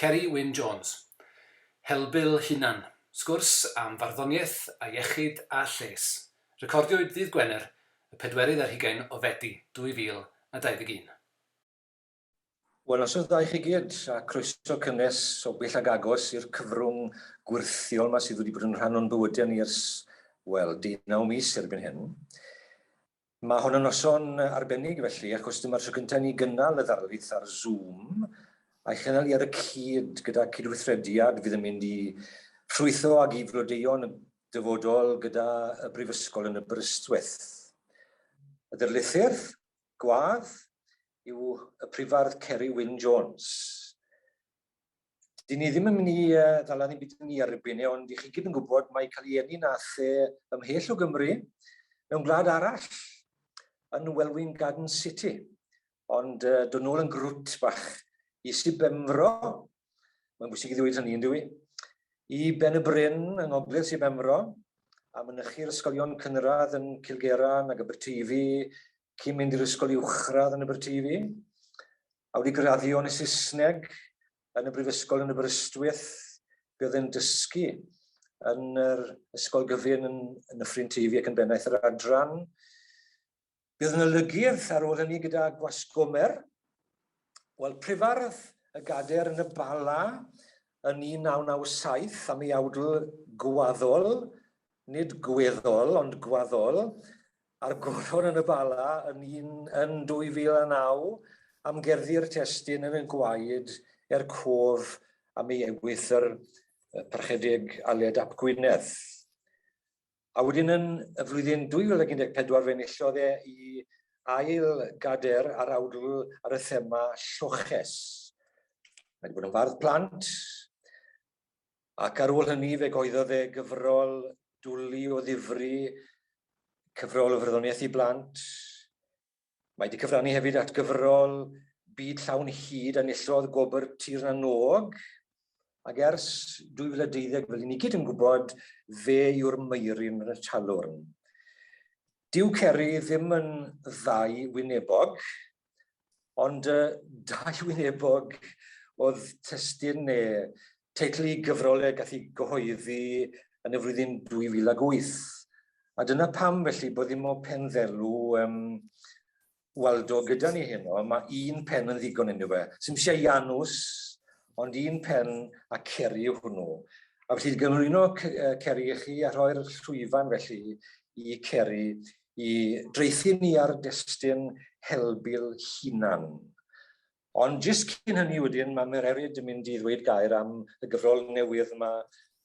Ceri Wyn Jones, Helbul Hunan, sgwrs am farddoniaeth a iechyd a lles, recordiwyd ddydd Gwener y pedwerydd ar hugain o Fedi 2021. Wel, noswaith dda i chi gyd, a croeso cynnes o bell ag agos i'r cyfrwng gwyrthiol 'ma sydd wedi bod yn rhan o'n bywyde ni ers, wel, deunaw mis erbyn hyn. Mae hwn yn noson arbennig felly achos dyma'r tro cyntaf i ni gynnal y ddarlith ar Zoom a'i chynnal hi ar y cyd gyda cydweithrediad fydd yn mynd i ffrwytho ag i flodeuo'n y dyfodol gyda y Brifysgol yn Aberystwyth. Y Darlithydd, Gwlad, yw y Prifardd Ceri Wyn Jones. dyn ni ddim yn mynd i uh, ddala ni'n byd ni ar y bwynau, ond i chi gyd yn gwybod mae cael ei enni'n a the ymhell o Gymru mewn gwlad arall yn Welwyn Garden City. Ond uh, dod nôl yn grwt bach i si Bemfro, mae'n bwysig i ddweud hynny yn dwi, i Ben y Bryn yng Ngogledd si Bemfro, a mynychu'r ysgolion cynradd yn Cilgeran ac Aberteifi, cyn mynd i'r ysgol uwchradd yn Aberteifi. A wedi graddio yn y Saesneg yn y Brifysgol yn Aberystwyth, buodd e'n dysgu yn yr Ysgol Gyfun yn Nyffryn Teifi ac yn bennaeth yr adran. Buodd yn olygydd ar ôl hynny gyda Gwasgomer. Wel, prifardd y gader yn y Bala yn 1997 am ei awdl gwaddol, nid gweddol ond gwaddol, A'r goron yn y Bala yn un yn 2009 am gerddi'r testun yn y gwaed er cof am ei ewythr yr Parchedig Aled ap Gwynedd. A wedyn yn y flwyddyn 2014 fe enillodd e i ail gader ar awdl ar y thema lloches. Mae wedi bod yn fardd plant, Ac ar ôl hynny fe goeddodd e gyfrol dwli o ddifri, cyfrol o fyrddoniaeth i blant. Mae 'di cyfrannu hefyd at gyfrol Byd Llawn Hud a nillodd gwobr Tir na n-Og. Ac ers 2012, fel i ni gyd yn gwybod, fe yw'r Meiryn yn y Talwrn. Dyw Ceri ddim yn ddau wynebog, Ond uh, dau wynebog oedd testyn neu teitl i gyfrolau gath ei gyhoeddi yn y flwyddyn 2008. A dyna pam felly bod ddim o pen ddelw um, Waldo gyda ni heno, mae un pen yn ddigon yn fe. Sym eisiau Janws, ond un pen a ceri hwnnw. A felly gymrwyno ceri i chi a rhoi'r llwyfan felly i ceri i dreithi ni ar destun Helbul hunan. Ond jyst cyn hynny wedyn mae Mererid yn mynd i ddweud gair am y gyfrol newydd yma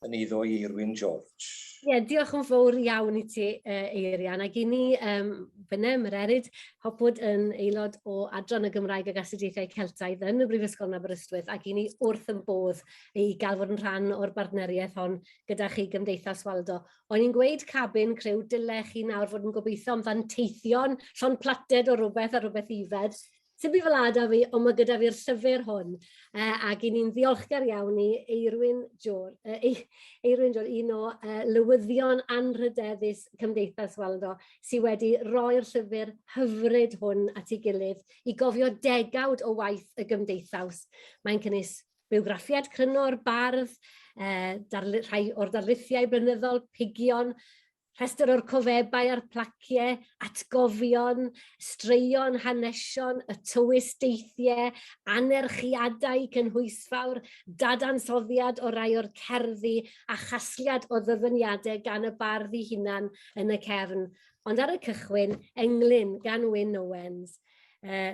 yn eiddo i Irwin George. Ie, yeah, diolch yn fawr iawn i ti, uh, Eirian. Ac i ni, um, fyna, Mererid, hopwyd yn aelod o Adran y Gymraeg ag Astudiaethau Celtaidd yn y Brifysgol yn Aberystwyth, ac i ni wrth yn bodd i gael fod yn rhan o'r bartneriaeth hon gyda chi Gymdeithas Waldo. O'n i'n gweud cabin criw, dyle chi nawr fod yn gobeithio am fanteithion, llond plated o rywbeth a rywbeth ifed. Sdim byd fel 'a 'da fi, ond mae gyda fi'r llyfr hwn, uh, ac i ni'n ddiolchgar iawn i Eirwyn Jor, uh, Eirwyn Jor, un o uh, lywyddion anrhydeddus Cymdeithas Waldo, sydd wedi roi'r llyfr hyfryd hwn at ei gilydd i gofio degawd o waith y gymdeithas. Mae'n cynnwys Bywgraffiad cryno o'r bardd, eh, darlu, rhai o'r darlithiau blynyddol, pigion, rhestr o'r cofebau a'r placiau, atgofion, straeon, hanesion, y tywys deithiau, anerchiadau cynhwysfawr, dadansoddiad o rai o'r cerddi a chasliad o ddyfyniadau gan y bardd i hunan yn y cefn. Ond ar y cychwyn, englyn gan Wyn Owens, uh,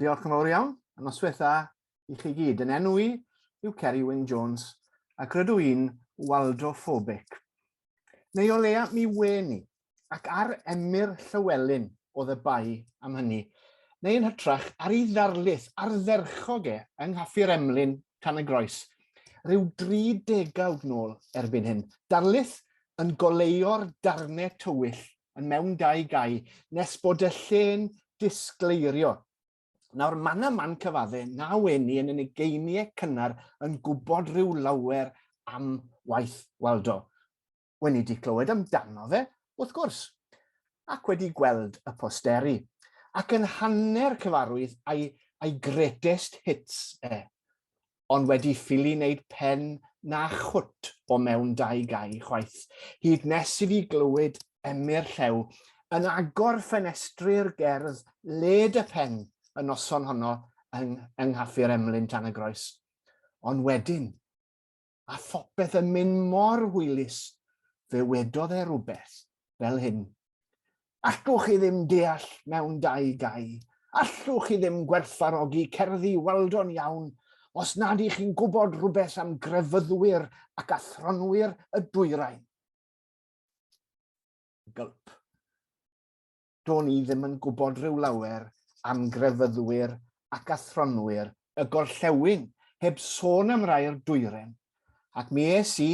Diolch yn fawr iawn, a noswaith dda i chi gyd. Yn enw i yw Ceri Wyn Jones, ac rydw i'n waldophobic. Neu o leia mi wen i, ac ar Emyr Llywelyn oedd y bai am hynny, neu yn hytrach ar ei ddarlith ardderchog e yng Nghaffi'r Emlyn, Tan y Groes, rhyw dri degawd nôl erbyn hyn. Darlith yn goleuo'r darnau tywyll yn mewn dau gau, nes bod y lle'n disgleirio. Nawr, mae yna man cyfadde, na weni yn yn ugeiniau cynnar yn gwybod rhyw lawer am waith Waldo. Weni di clywed amdano fe, wrth gwrs, ac wedi gweld y posteri, ac yn hanner cyfarwydd a'i, a'i greatest hits e. ond wedi ffili wneud pen na chwt o mewn dau gau chwaith, hyd nes i fi glywed Emyr Llew yn agor ffenestri'r gerdd led y pen y noson honno yng, yng Nghaffi'r Emlyn tan y groes. Ond wedyn, a phopeth yn mynd mor hwylus, fe wedodd e rhywbeth fel hyn. Allwch chi ddim deall mewn dau gau, allwch chi ddim gwerthfarogi cerddi Waldon iawn os nad ych chi'n gwybod rhywbeth am grefyddwyr ac athronwyr y dwyrain. Gulp. do'n i ddim yn gwybod rhyw lawer am grefyddwyr ac athronwyr y gorllewin, heb sôn am rai'r dwyren, ac mi es i,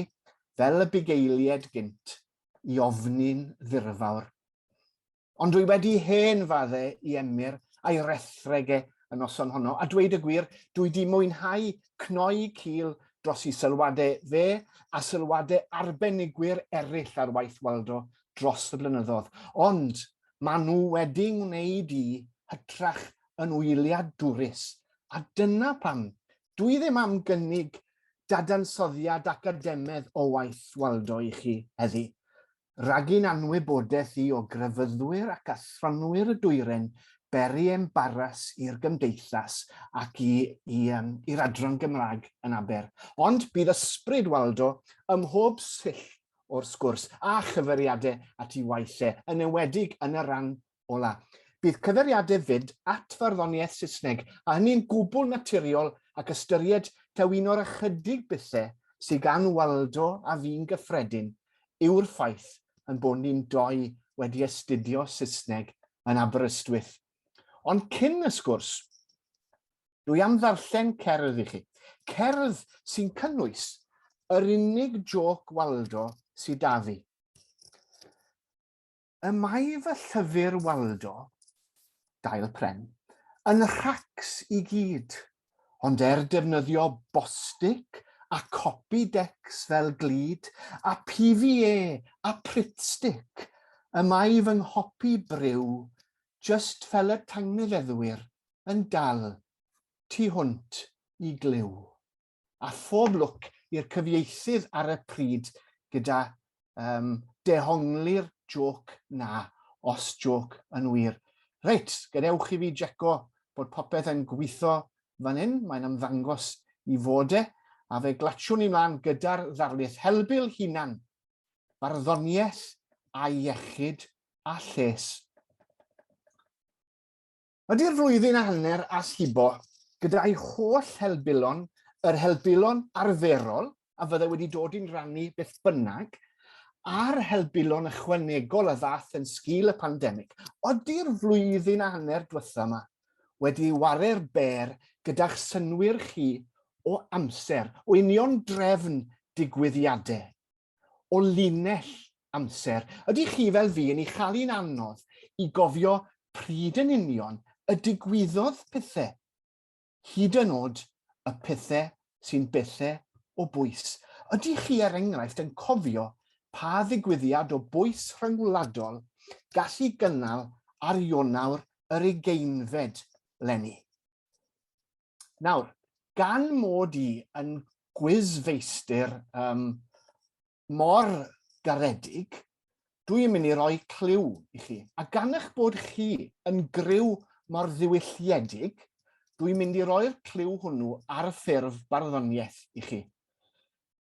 fel y bugeilied gynt, i ofni'n ddirfawr. Ond dwi wedi hen fadde i Emyr a'i rethreg e y noson honno, a dweud y gwir, dwi di mwynhau cnoi cil dros i sylwade fe a sylwade arbenigwyr eraill ar waith Waldo dros y blynyddodd, ond maen nhw wedi wneud i hytrach yn wyliadwrus, a dyna pam dwi ddim am gynnig dadansoddiad academedd o waith Waldo i chi heddi, rhag i'n anwybodaeth i o grefyddwyr ac athronwyr y Dwyren beri embaras i'r Gymdeithas ac i, i, um, i'r Adran Gymraeg yn Aber. Ond bydd ysbryd Waldo ym mhob sill o'r sgwrs a chyfeiriade at i waith e, yn enwedig yn y ran ola. Bydd cyfeiriade fyd at farddoniaeth Saesneg, a hynny'n gwbl naturiol ac ystyried taw un o'r ychydig bethe sy gan Waldo a fi'n gyffredin yw'r ffaith yn bod ni'n doi wedi astudio Saesneg yn Aberystwyth. Ond cyn y sgwrs, Dwi am ddarllen cerdd i chi. Cerdd sy'n cynnwys yr unig joc Waldo sy 'da fi. Y mae fy llyfr Waldo, Dail Pren, yn rhacs i gyd, ond er defnyddio Bostik a Copydex fel glud, a PVA a Pritstick, y mae fy nghopi bryw, jyst fel y tangnefeddwyr, yn dal tu hwnt i glyw. A phob lwc i'r cyfieithydd ar y pryd gyda um, dehongli'r joc na, os joc yn wir. Reit, gadewch i fi jeco bod popeth yn gweithio fan hyn, mae'n ymddangos i fod e, a fe glatiwn ni mlaen gyda'r ddarlith helbyl hunan, barddoniaeth a iechyd a lles. Ydy'r flwyddyn a hanner as hibo, gyda'i holl helbulon, yr helbulon arferol a fyddai wedi dod i'n rannu beth bynnag, a'r helbulon ychwanegol a ddath yn sgil y pandemig, ydy'r flwyddyn a hanner diwetha' 'ma wedi ware'r bêr gyda'ch synnwyr chi o amser, o union drefn digwyddiadau, o linell amser. Ydych chi fel fi yn ei chael hi'n anodd i gofio pryd yn union y digwyddodd pethau, hyd yn oed y pethau sy'n bethau o bwys? Ydych chi er enghraifft yn cofio pa ddigwyddiad o bwys rhyngwladol gallu gynnal ar Ionawr yr ugeinfed leni? Nawr, gan mod i yn gwyzfeistir um, mor garedig, dwi yn mynd i roi clyw i chi. A gan eich bod chi yn gryw mor ddiwylliedig, dwi'n mynd i roi'r clyw hwnnw ar y ffurf barddoniaeth i chi.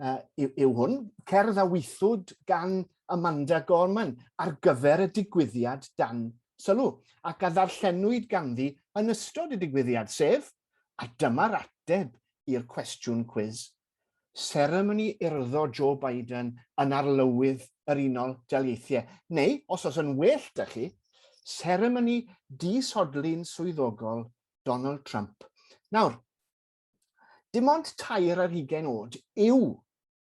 uh, yw, yw hwn, cerdd a weithwyd gan Amanda Gorman ar gyfer y digwyddiad dan sylw, ac a ddarllenwyd ganddi yn ystod y digwyddiad, sef, a dyma'r ateb i'r cwestiwn cwiz, seremoni urddo Joe Biden yn arlywydd yr Unol Daleithiau, neu, os oes yn well da chi, seremoni disodli'n swyddogol Donald Trump. Nawr, Dim ond tair ar hugain oed yw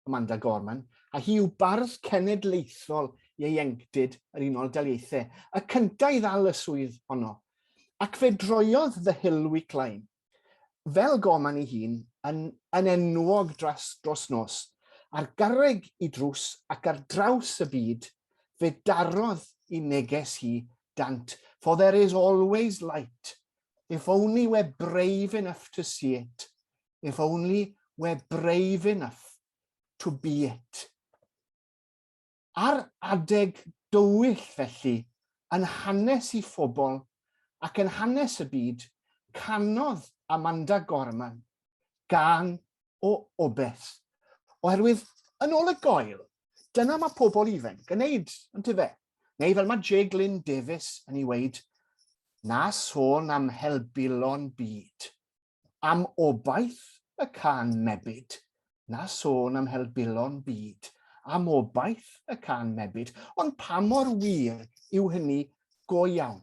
Amanda Gorman, a hi yw bardd cenedlaethol ieuenctid yr Unol Daleithiau, y cyntaf i ddal y swydd honno, ac fe droiodd The Hill Week Line, fel Gorman ei hun, yn, yn enwog dros, dros nos, ar garreg i drws ac ar draws y byd, fe darodd i neges hi dant, for there is always light If only we're brave enough to see it. If only we're brave enough to be it. Ar adeg dywyll felly, yn hanes i phobl ac yn hanes y byd, canodd Amanda Gorman gan o obeth. Oherwydd, yn ôl y goel, Dyna mae pobl ifanc yn neud, yn tyfe? Neu fel mae Jay Glyn Davis yn ei weid, na sôn am helbulon byd. Am obaith y can mebyd, na sôn am helbulon byd. Am obaith y can mebyd. Ond pa mor wir yw hynny go iawn?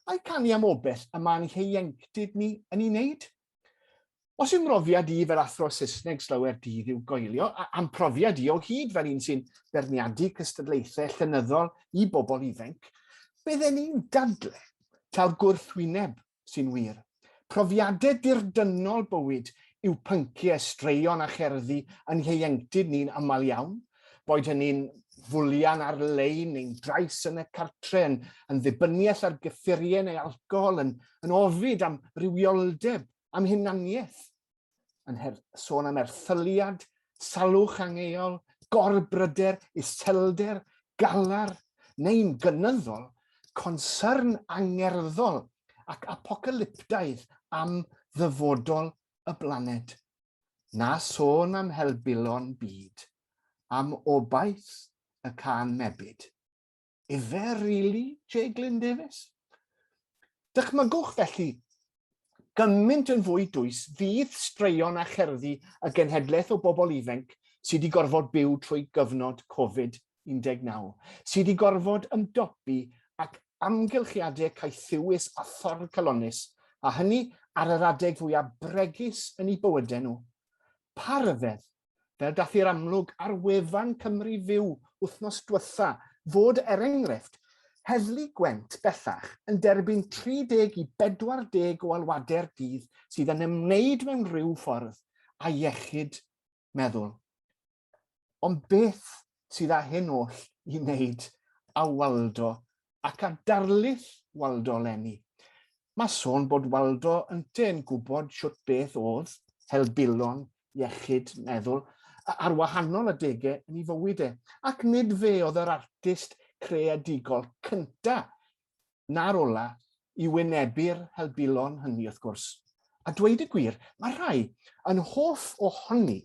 Ai canu am obell y mae'n hieuenctid ni yn ei wneud? Os yw mhrofiad i fel athro Saesneg slower dydd i'w goelio, a a'm profiad i o hyd fel un sy'n beirniadu cystadlaethau llenyddol i bobl ifainc, bydden i'n dadle taw'r gwrthwyneb sy'n wir. Profiadau dirdynnol bywyd yw pynciau straeon a cherddi yn ieuenctid ni'n aml iawn, boed hynny'n fwlian ar-lein neu'n drais yn y cartre, yn yn ddibyniaeth ar gyffuriau neu alcohol, yn yn ofid am rywioldeb, am hunaniaeth. yn her, sôn am erthyliad, salwch angeol, gorbryder, iselder, galar, neu'n gynyddol, concern angerddol ac apocalyptaidd am ddyfodol y blaned. Na sôn am helbulon byd, am obaith y can mebyd. Ife rili, Jay Glyn Davies? Dychmygwch felly, gymaint yn fwy dwys fydd straeon a cherddi y genhedlaeth o bobl ifanc sydd wedi gorfod byw trwy gyfnod Covid-19, sydd wedi gorfod ymdopi ac amgylchiadau caethiwus a thorr calonus, a hynny ar yr adeg fwyaf bregus yn eu bywydau nhw. Pa ryfedd, fel dath i'r amlwg ar wefan Cymru Fyw wythnos diwetha, fod er enghraifft, Heddlu Gwent bellach yn derbyn 30 i 40 o alwadau'r dydd sydd yn ymwneud mewn rhyw ffordd â iechyd meddwl. Ond beth sydd â hyn oll i wneud â Waldo ac â darlith Waldo 'leni. Mae sôn bod Waldo ynte yn gwybod shwt beth oedd helbulon iechyd meddwl ar wahanol adege yn ei fywyd e, ac nid fe oedd yr artist creadigol cynta na'r ola i wynebu'r helbulon hynny wrth gwrs. A dweud y gwir, mae rhai yn hoff ohoni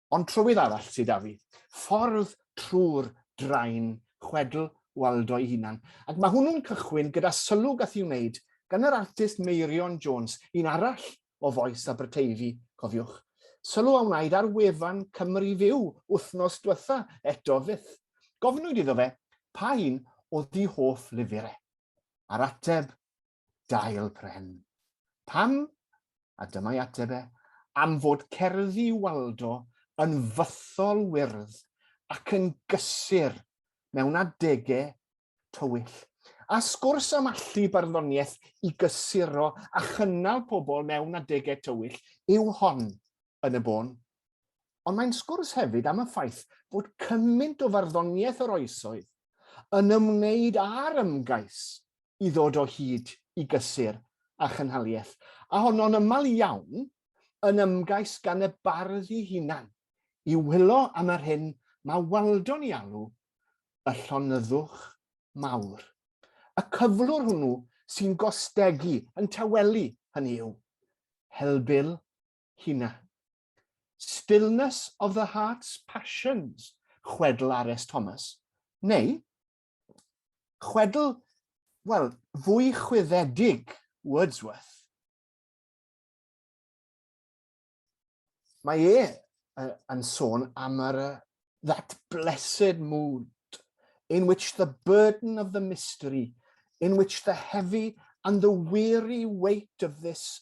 Ond trywydd arall sy 'da fi. Ffordd trwy'r drain, chwedl Waldo'i hunan. Ac mae hwnnw'n cychwyn gyda sylw gath i'w wneud gan yr artist Meirion Jones, un arall o Fois Aberteifi, cofiwch. Sylw a wnaed ar wefan Cymru Fyw wythnos dwetha, eto fyth. Gofynwyd iddo fe pa un oedd 'i hoff lyfr e. A'r ateb, dail pren. Pam? A dyma'i ateb e, am fod cerddi Waldo yn fythol wyrdd ac yn gysur mewn adegau tywyll. A sgwrs am allu barddoniaeth i gysuro a chynnal pobl mewn adegau tywyll yw hon yn y bôn. Ond mae'n sgwrs hefyd am y ffaith bod cymaint o farddoniaeth yr oesoedd yn ymwneud â'r ymgais i ddod o hyd i gysur a chynhaliaeth, a honno'n ymal iawn yn ymgais gan y bardd i hunan i wylo am yr hyn mae Waldo'n ei alw y llonyddwch mawr. Y cyflwr hwnnw sy'n gostegu, yn tawelu, hynny yw, helbul hunan. Stillness of the Heart's Passions, chwedl Ares Thomas, neu chwedl, wel, fwy chwyddedig Wordsworth. Mae e yn sôn am yr that blessed mood in which the burden of the mystery, in which the heavy and the weary weight of this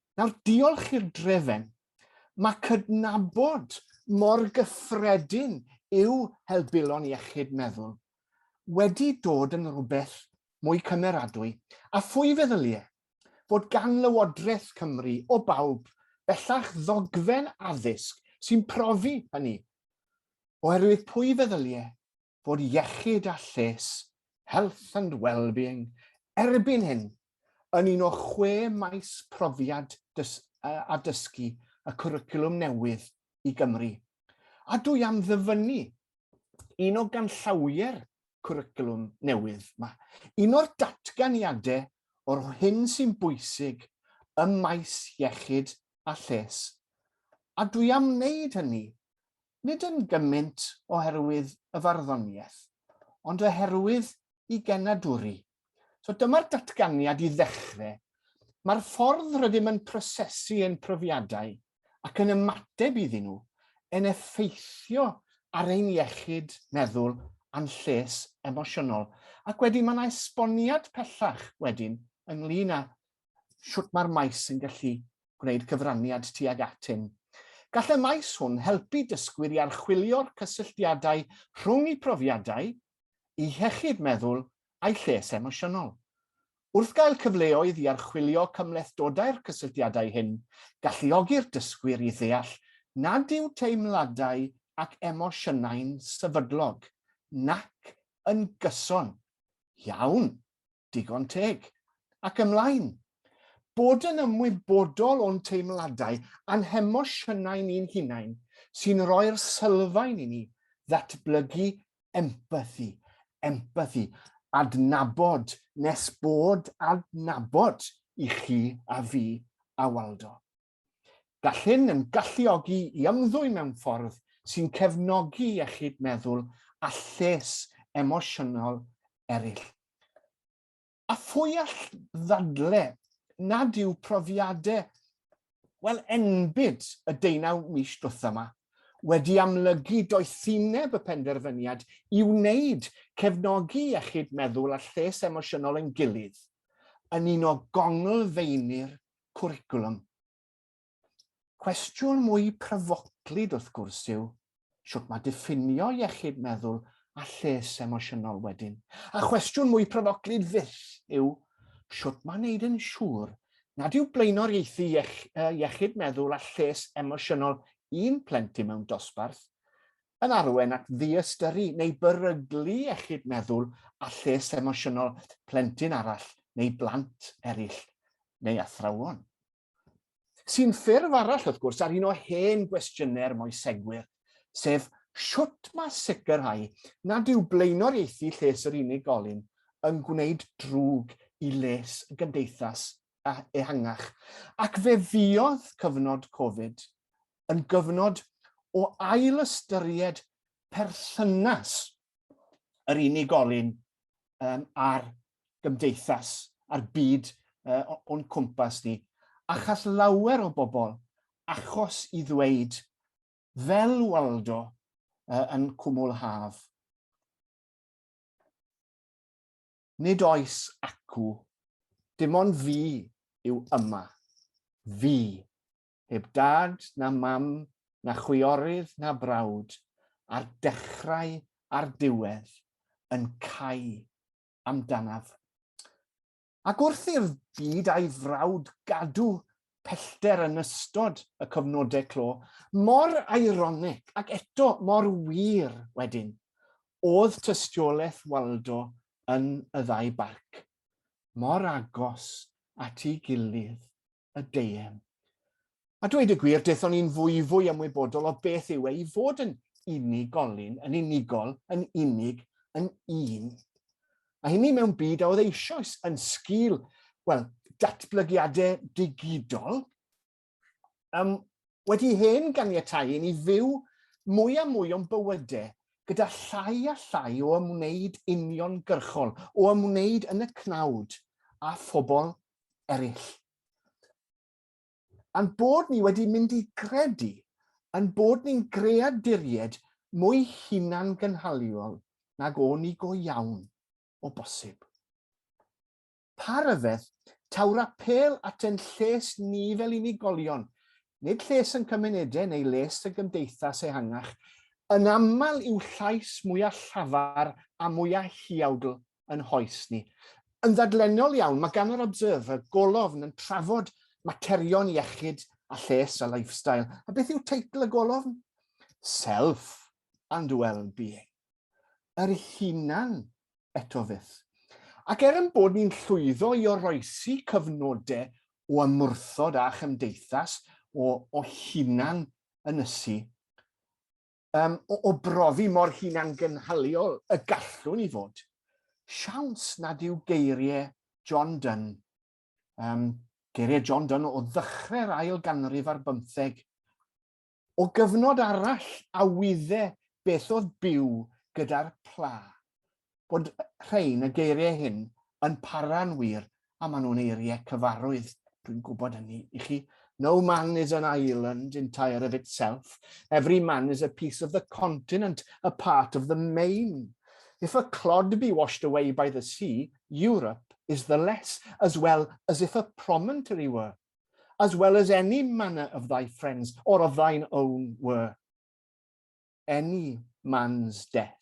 Nawr, diolch i'r drefen, mae cydnabod mor gyffredin yw helbulon iechyd meddwl wedi dod yn rhywbeth mwy cymeradwy, a phwy feddylie fod gan Lywodraeth Cymru, o bawb, bellach ddogfen addysg sy'n profi hynny, oherwydd pwy feddylie fod iechyd a lles, health and well-being, erbyn hyn yn un o chwe maes profiad a dysgu y cwricwlwm newydd i Gymru, a dwi am ddyfynnu un o ganllawiau'r cwricwlwm newydd yma, un o'r datganiadau o'r hyn sy'n bwysig ym maes iechyd a lles, a dwi am wneud hynny nid yn gymaint oherwydd y farddoniaeth, ond oherwydd i genadwri. So dyma'r datganiad i ddechrau. Mae'r ffordd rydym yn prosesu ein profiadau ac yn ymateb iddyn nhw yn effeithio ar ein iechyd meddwl a'n lles emosiynol. Ac wedyn mae yna esboniad pellach wedyn ynglyn â shwt mae'r maes yn gallu gwneud cyfraniad tuag atyn. Gall y maes hwn helpu dysgwyr i archwilio'r cysylltiadau rhwng eu profiadau, eu hiechyd meddwl a'u lles emosiynol. Wrth gael cyfleoedd i archwilio cymhlethdodau'r cysylltiadau hyn, galluogi'r dysgwyr i ddeall nad yw teimladau ac emosiynau'n sefydlog, nac yn gyson iawn. digon teg. Ac ymlaen. Bod yn ymwybodol o'n teimladau a'n hemosiynau ni'n hunain sy'n rhoi'r sylfaen i ni ddatblygu empathi, empathi, adnabod nes bod adnabod i chi a fi a Waldo. Gall hyn yn galluogi i ymddwyn mewn ffordd sy'n cefnogi iechyd meddwl a lles emosiynol eraill. A phwy all ddadle nad yw profiadau, wel, enbyd y deunaw mis dwetha yma wedi amlygu doethineb y penderfyniad i wneud cefnogi iechyd meddwl a lles emosiynol yn gilydd yn un o gonglfeini'r cwricwlwm. Cwestiwn mwy pryfoclyd wrth gwrs yw, sut mae diffinio iechyd meddwl a lles emosiynol wedyn? A chwestiwn mwy pryfoclyd fyth yw, sut mae wneud yn siŵr nad yw blaenoriaethu iechyd meddwl a lles emosiynol un plentyn mewn dosbarth yn arwain at ddiystyru neu beryglu iechyd meddwl a lles emosiynol plentyn arall neu blant eraill neu athrawon. Sy'n ffurf arall, wrth gwrs, ar un o hen gwestiynau'r moesegwyr, sef sut mae sicrhau nad yw blaenoriaethu lles yr unigolyn yn gwneud drwg i les y gymdeithas ehangach, ac fe fuodd cyfnod Covid yn gyfnod o ail ystyried perthynas yr unigolyn um, a'r gymdeithas, a'r byd uh, o'n cwmpas ni. Achos lawer o bobl, achos i ddweud, fel Waldo uh, yn cwmwl haf, nid oes acw, dim ond fi yw yma, fi heb dad na mam na chwiorydd na brawd, a'r dechrau a'r diwedd yn cau amdanaf. Ac wrth i'r byd a'i frawd gadw pellter yn ystod y cyfnodau clo, mor eironig ac eto mor wir wedyn, oedd tystiolaeth Waldo yn y ddau barc, mor agos at ei gilydd y deien. A dweud y gwir, dethon i'n fwyfwy ymwybodol o beth yw e i fod yn unigolyn, yn unigol, yn unig, yn un. A hynny mewn byd a oedd eisoes yn sgil, wel, datblygiadau digidol, um, wedi hen ganiatau i ni fyw mwy a mwy o'n bywydau gyda llai a llai o ymwneud uniongyrchol, o ymwneud yn y cnawd a phobl eraill. A'n bod ni wedi mynd i gredu yn bod ni'n greaduried mwy hunan gynhaliol nag o'n i go iawn o bosib. Pa ryfedd taw'r apel at yn lles ni fel unigolion, nid lles yn cymunedau neu les y gymdeithas ehangach, yn aml yw llais mwyaf llafar a mwyaf hiawdl yn hoes ni. Yn ddadlennol iawn, mae gan yr Observer golofn yn trafod materion iechyd a lles a lifestyle. A beth yw teitl y golofn? Self and well-being. Yr hunan eto fyth. Ac er yn bod ni'n llwyddo i oroesi cyfnodau o ymwrthod â chymdeithas o, o hunan ynysu, um, o, o brofi mor hunangynhaliol y gallwn i fod. Siawns nad yw geiriau John Dunn, um, geiriau John Dunn o ddechrau'r ail ganrif ar bymtheg, o gyfnod arall a wydde beth oedd byw gyda'r pla. bod rhain, y geiriau hyn, yn para'n wir, a maen nhw'n eiriau cyfarwydd, dwi'n gwybod hynny i chi. No man is an island entire of itself. Every man is a piece of the continent, a part of the main. If a clod be washed away by the sea, Europe is the less, as well as if a promontory were, as well as any manner of thy friends, or of thine own were. Any man's death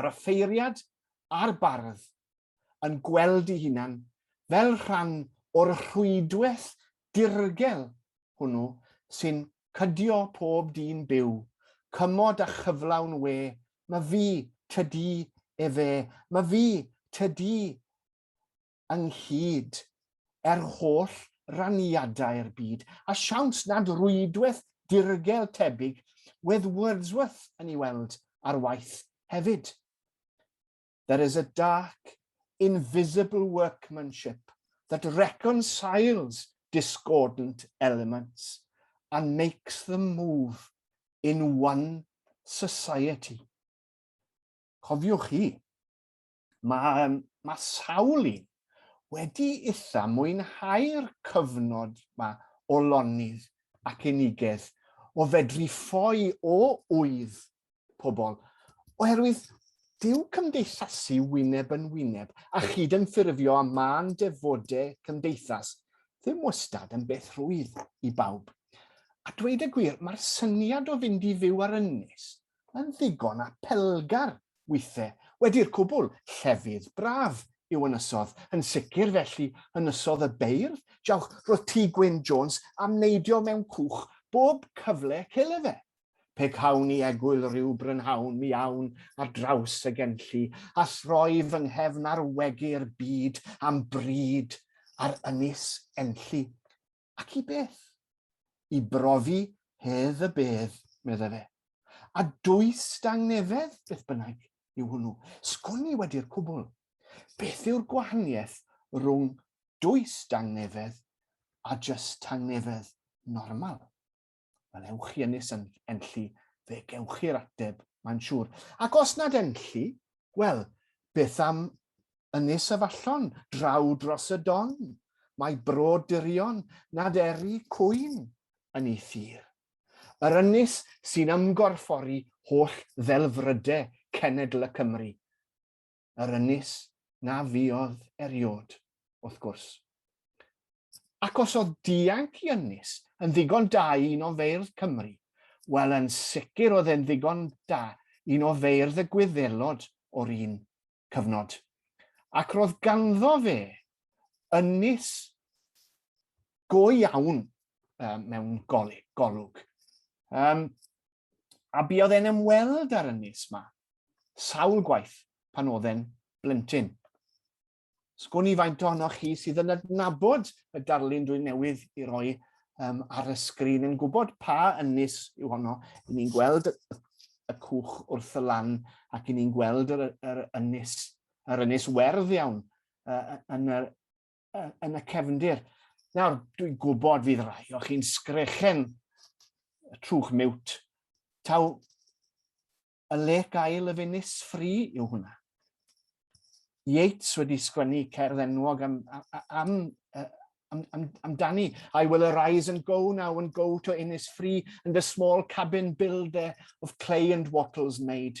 yr offeiriad a'r bardd yn gweld i hunan fel rhan o'r rhwydwaith dirgel hwnnw sy'n cydio pob dyn byw, cymod a chyflawn we, ma fi, tydi, efe, ma fi, tydi, ynghyd, er holl raniadau'r byd, a siawns nad rwydwaith dirgel tebyg wedd Wordsworth yn ei weld ar waith hefyd. There is a dark, invisible workmanship that reconciles discordant elements and makes them move in one society. Cofiwch chi, Mae, mae sawl un wedi itha mwynhau'r cyfnod ma o lonydd ac unigedd, o fedru ffoi o ŵydd pobl, oherwydd dyw cymdeithasu wyneb yn wyneb a chyd-ymffurfio â mân defode cymdeithas ddim wastad yn beth rwydd i bawb. A dweud y gwir, mae'r syniad o fynd i fyw ar ynys yn ddigon apelgar withe, wedi'r cwbl, llefydd braf yw Ynysodd, yn sicr felly Ynysodd y Beirdd, jawch, roedd Tŷ Gwyn Jones am neidio mewn cwch bob cyfle cele fe. Pe cawn i egwyl ryw brynhawn mi awn ar draws y Genlli a throi fy nghefn ar wegu'r byd am bryd ar Ynys Enlli. Ac i beth? I brofi hedd y bedd, meddai fe. A dwys dangnefedd, beth bynnag, yw hwnnw. Sgwn i wedi'r cwbl. Beth yw'r gwahaniaeth rhwng dwys dangnefedd a jyst tangnefedd normal? Wel, ewch chi ynys yn enlli, fe gewch chi'r ateb, mae'n siŵr. Ac os nad enlli, wel, beth am ynys y fallon, draw dros y don? Mae bro dirion nad eri cwyn yn ei thir. Yr ynys sy'n ymgorffori holl ddelfrydau cenedl y Cymru. yr ynys na fuodd eriod, wrth gwrs. Ac os oedd dianc i ynys yn ddigon da i un o feirdd Cymru, wel yn sicr oedd e'n ddigon da un o feirdd y gwyddelod o'r un cyfnod. Ac roedd ganddo fe ynys go iawn um, mewn golwg. Um, A buodd e'n ymweld â'r ynys ma, sawl gwaith pan oedd e'n blentyn. Sgwn i faint ohonoch chi sydd yn adnabod y darlun dwi newydd i roi um, ar y sgrin yn gwybod pa ynys yw honno. Yn ni'n gweld y cwch wrth y lan ac yn ni'n gweld yr, yr ynys, yr ynys werdd iawn uh, yn, yr, yn y cefndir. Nawr, dwi'n gwybod fydd rai o chi'n sgrechen y trwch miwt. Taw y le gael y funis ffri yw hwnna. Yeats wedi sgwennu cerdd enwog am, am, am, am, am Danny. I will arise and go now and go to Innis Free and a small cabin build there of clay and wattles made.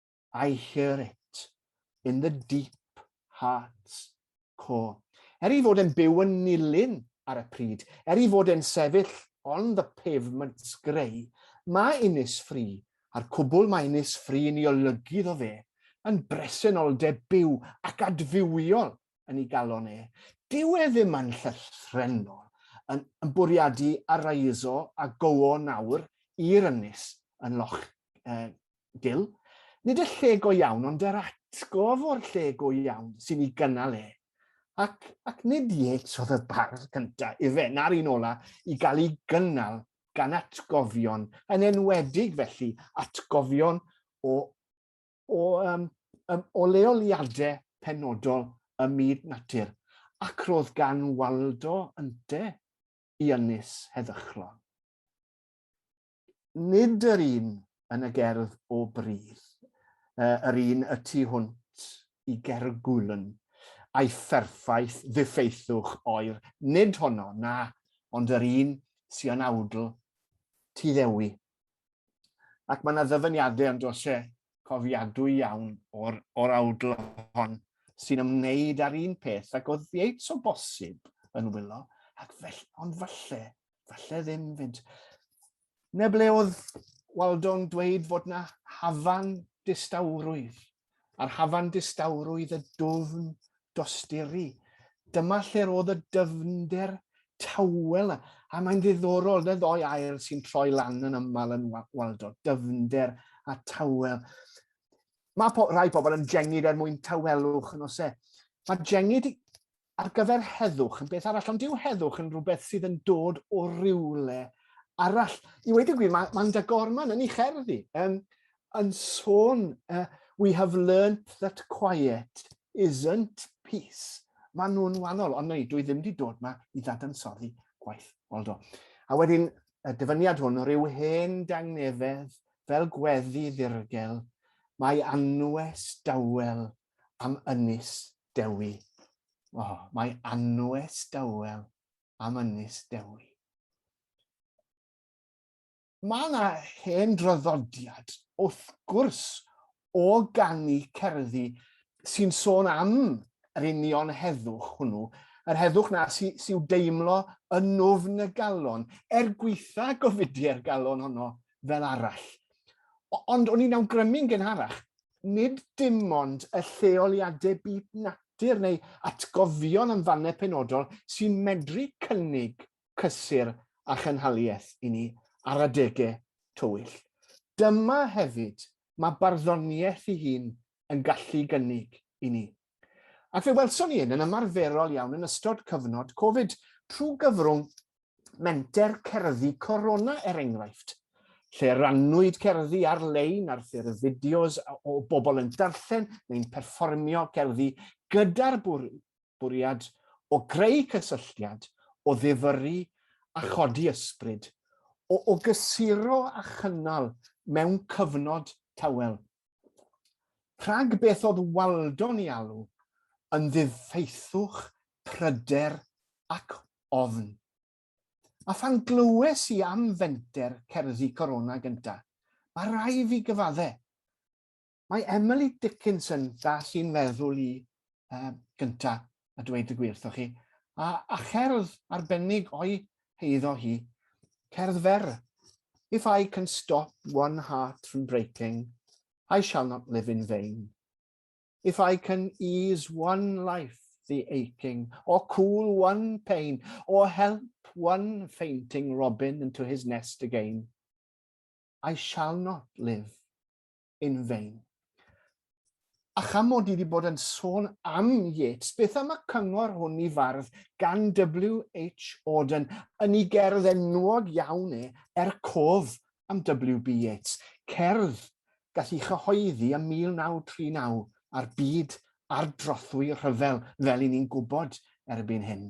I hear it in the deep heart's core. Er i fod e'n byw yn nilyn ar y pryd, er i fod e'n sefyll on the pavement greu, mae Innis Free, a'r cwbl mae Innis Free yn ei olygu iddo fe, yn bresenoldeb byw ac adfywiol yn ei galon e. Dyw e ddim yn llythrennol yn, yn bwriadu araiso a gowo nawr i'r ynys yn loch uh, dil. Nid y lle go iawn, ond yr atgof o'r lle go iawn sy'n ei gynnal e. Ac, ac nid Yeats oedd y bardd cyntaf, ife, na'r un ola, i gael ei gynnal gan atgofion, yn enwedig felly atgofion o, o, um, um, o leoliadau penodol y myd natur, ac roedd gan Waldo ynte i ynys heddychlon. nid yr un yn y gerdd o Bridd, yr un y tu hwnt i Gergwln, a'i pherffaith ddiffeithwch oer, nid honno, na, ond yr un sy yn awdl Tŷ Ddewi. Ac mae yna ddyfyniadau yn dos e cofiadwy iawn o'r, or awdl hon sy'n ymwneud â'r un peth ac oedd Yates o bosib yn wylo, ac felly, ond falle falle ddim 'fyd. 'Na ble oedd Waldo'n dweud fod 'na hafan distawrwydd, a'r hafan distawrwydd y dwfn dosturi. Dyma lle'r oedd y dyfnder tawel, a mae'n ddiddorol, na ddoi air sy'n troi lan yn aml yn Waldo, dyfnder a tawel. Mae po, rai pobl yn jengid er mwyn tawelwch yn ose. Mae jengid ar gyfer heddwch yn beth arall, ond dyw heddwch yn rhywbeth sydd yn dod o rywle arall. I wedi gwir, mae Manda Gorman yn ei cherdd i, um, yn sôn, uh, we have learnt that quiet isn't peace. Mae nhw'n wahanol, ond neu, dwi ddim wedi dod yma i ddadansoddi gwaith Waldo. A wedyn, y dyfyniad hwn, rhyw hen dangnefedd fel gweddi ddirgel, mae anwes dawel am Ynys Dewi. O, mae anwes dawel am Ynys Dewi. Mae yna hen draddodiad, wrth gwrs, o ganu cerddi sy'n sôn am yr union heddwch hwnnw, yr heddwch na sy, sy'w deimlo yn nofn y galon, er gweitha gofidiau'r galon honno fel arall. Ond o'n i'n awgrymu'n gynharach, nid dim ond y lleoliadau byd natur neu atgofion am fannau penodol sy'n medru cynnig cysur a chynhaliaeth i ni ar adegau tywyll. Dyma hefyd mae barddoniaeth ei hun yn gallu gynnig i ni. Ac fe welson ni hyn yn ymarferol iawn yn ystod cyfnod Covid, trwy gyfrwng menter cerddi Corona er enghraifft, lle rannwyd cerddi ar-lein ar ffurf fideos o bobl yn darllen neu'n perfformio cerddi gyda'r bwriad o greu cysylltiad, o ddifyrru a chodi ysbryd, o, o gysuro a chynnal mewn cyfnod tawel Rhag beth oedd Waldon i alw yn ddifeithwch pryder ac ofn. A phan glywes i am fenter cerddi Corona gynta, mae rai fi gyfadde. Mae Emily Dickinson, ddaeth i'n meddwl i uh, gynta a dweud y gwir wrthoch chi, a, a cherdd arbennig o'i heiddo hi, cerdd fer. If I can stop one heart from breaking, I shall not live in vain. If I can ease one life the aching, or cool one pain, or help one fainting robin into his nest again, I shall not live in vain. A cham mod i wedi bod yn sôn am Yeats, beth am y cyngor hwn i fardd gan W.H. Auden yn ei gerdd enwog iawn e, Er Cof am W.B. Yeats, cerdd gall ei chyhoeddi ym 1939 a'r byd ardrothwy rhyfel fel i ni'n gwybod erbyn hyn.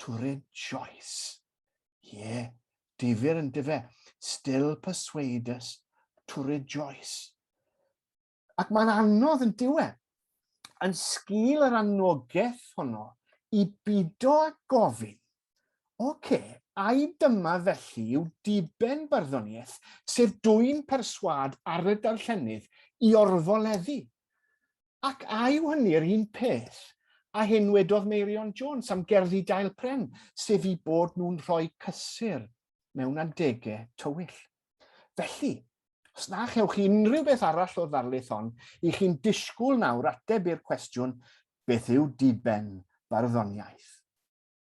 Turin Joyce. Ie, difyr yndyfe, still persuade us, Turin Joyce. Ac mae'n anodd yn diwe, yn sgil yr anogaeth honno, i bido a gofyn, oce, okay, ai dyma felly yw diben barddoniaeth, sef dwy'n perswad ar y darllenydd i orfoleddu? Ac a yw hynny'r un peth â hyn wedodd Meirion Jones am gerddi Dail Pren, sef eu bod nhw'n rhoi cysur mewn adegau tywyll? Felly, os na chewch chi unrhyw beth arall o'r ddarlith hon, i chi'n disgwyl nawr ateb i'r cwestiwn, beth yw diben barddoniaeth?